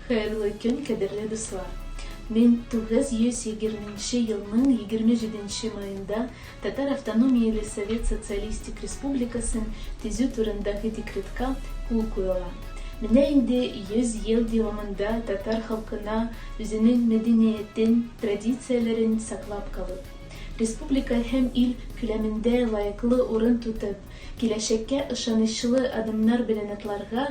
Хәерле көн, кадерле дуслар! Мин 920 нче елның 27 нче маенда Татар автономияле Совет Социалистик Республикасын төзү турындагы декретка кул куела. Менә инде 100 ел дәвамында татар халкына үзенең мәдәниятен, традицияләрен саклап калып, республика һәм ил күләмендә лаеклы урын тотып, киләчәккә ышанычлы адымнар беләнатларга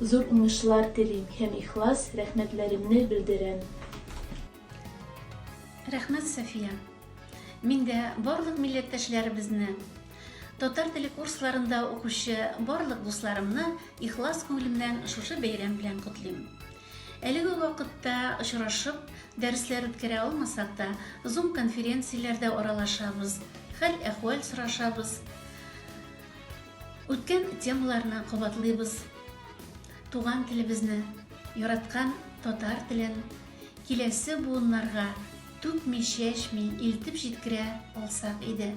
Зур уңышлар телим һәм ихлас рәхмәтләремне белдерәм. Рәхмәт, София! Мин дә барлык милләттәшләребезне, татар теле курсларында укучы барлык дусларымны ихлас күңелемнән шушы бәйрәм белән котлыйм. Әлеге вакытта очрашып, дәресләр үткәрә алмасак та, Zoom конференцияләрдә аралашабыз, хәл-әхвәл сорашабыз. Үткән темаларны кабатлыйбыз. Туган телебезне, яраткан татар телен киләсе буыннарга түкми-чәчми илтеп җиткерә алсак иде.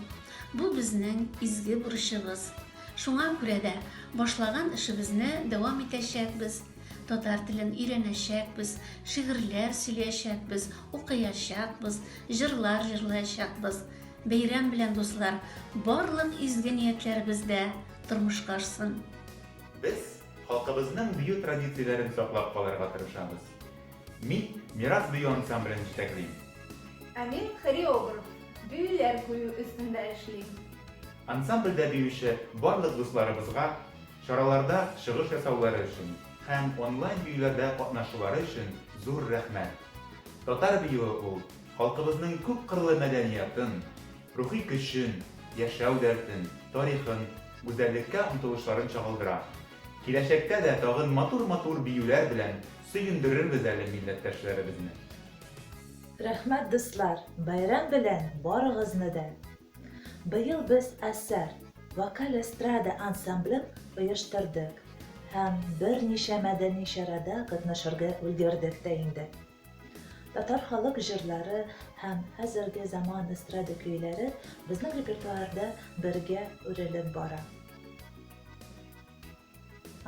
Бу безнең изге бурычыбыз. Шуңа күрә дә башлаган эшебезне дәвам итәчәкбез, татар телен өйрәнәчәкбез, шигырьләр сөйләячәкбез, укыячакбыз, җырлар җырлаячакбыз. Бәйрәм белән дуслар, барлык изге ниятләребез дә тормышка ашсын! Без халкыбызның бию традицияләрен саклап калырга тырышабыз. Мин Мирас бию ансамблен җитәклим. Ә мин хореограф, биюләр кую өстендә эшлим. Ансамбльдә биюче барлык дусларыбызга чараларда чыгыш ясаулары өчен һәм онлайн биюләрдә катнашулары өчен зур рәхмәт! Татар биюе ул! Халкыбызның күпкырлы мәдәниятын, рухи көчен, яшәү дәртен, тарихын, гүзәллеккә омтылышларын чагылдыра. Киләчәктә дә тагын матур-матур биюләр белән сөендерербез әле милләттәшләребезне. Рәхмәт дуслар, бәйрәм белән барыгызны да! Быел без Асар вокаль эстрада ансамблен оештырдык һәм берничә мәдәни чарада катнашырга өлгердек тә инде. Татар халык җырлары һәм хәзерге заман эстрада көйләре безнең репертуарда бергә үрелеп бара.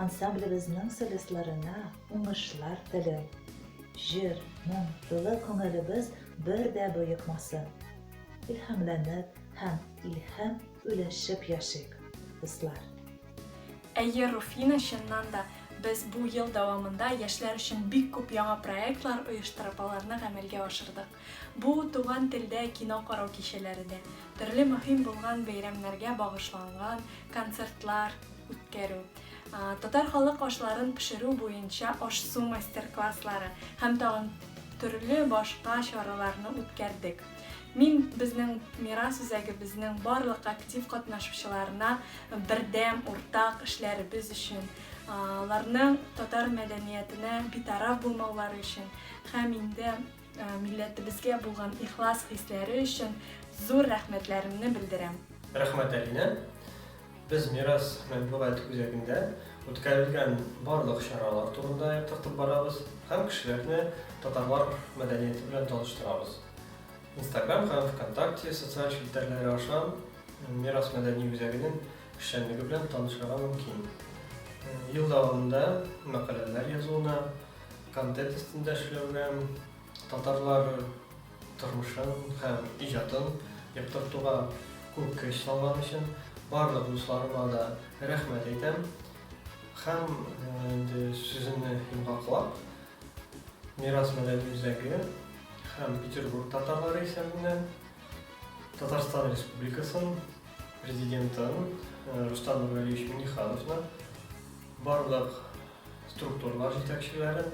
Ансамблебезнең солистларына уңышлар телим. Җыр, моң, тулы күңелебез бер дә боекмасын. Илһамланып һәм илһам өләшеп яшик, дуслар! Әйе, Руфина, чыннан да, без бу ел дәвамында яшьләр өчен бик күп яңа проектлар оештырып, аларны гамәлгә ашырдык. Бу, туган телдә кино карау кичәләре дә, төрле мөһим булган бәйрәмнәргә багышланган концертлар үткәрү, татар халык ашларын пешерү буенча аш-су мастер-класслары һәм тагын төрле башка чараларны үткәрдек. Мин безнең мирас үзәгебезнең барлык актив катнашучыларына бердәм, уртак эшләребез өчен, аларның татар мәдәниятенә битараф булмаулары өчен һәм инде милләтебезгә булган ихлас хисләре өчен зур рәхмәтләремне белдерәм. Рәхмәт, Алинә. Без Мирас матбугат үзәгендә үткәрелгән барлык чаралар турында яктыртып барабыз һәм кешеләрне татарлар мәдәнияте белән таныштырабыз. Инстаграм һәм Вконтакте социаль челтәрләре аша Мирас мәдәни үзәгенең эшчәнлеге белән танышырга мөмкин. Ел дәвамында мәкаләләр язуны, контент өстендә эшләүгә, татарлар тормышын һәм иҗатын яктыртуга күп көч салган өчен барлык дусларыма да рәхмәт әйтәм. Һәм инде сүземне йомгаклап, Мирас мәдәни үзәге һәм Петербург татарлары исәбеннән Татарстан Республикасын президентын э, Рустам Нургалиевич Минихановны, барлык структуралар җитәкчеләрен,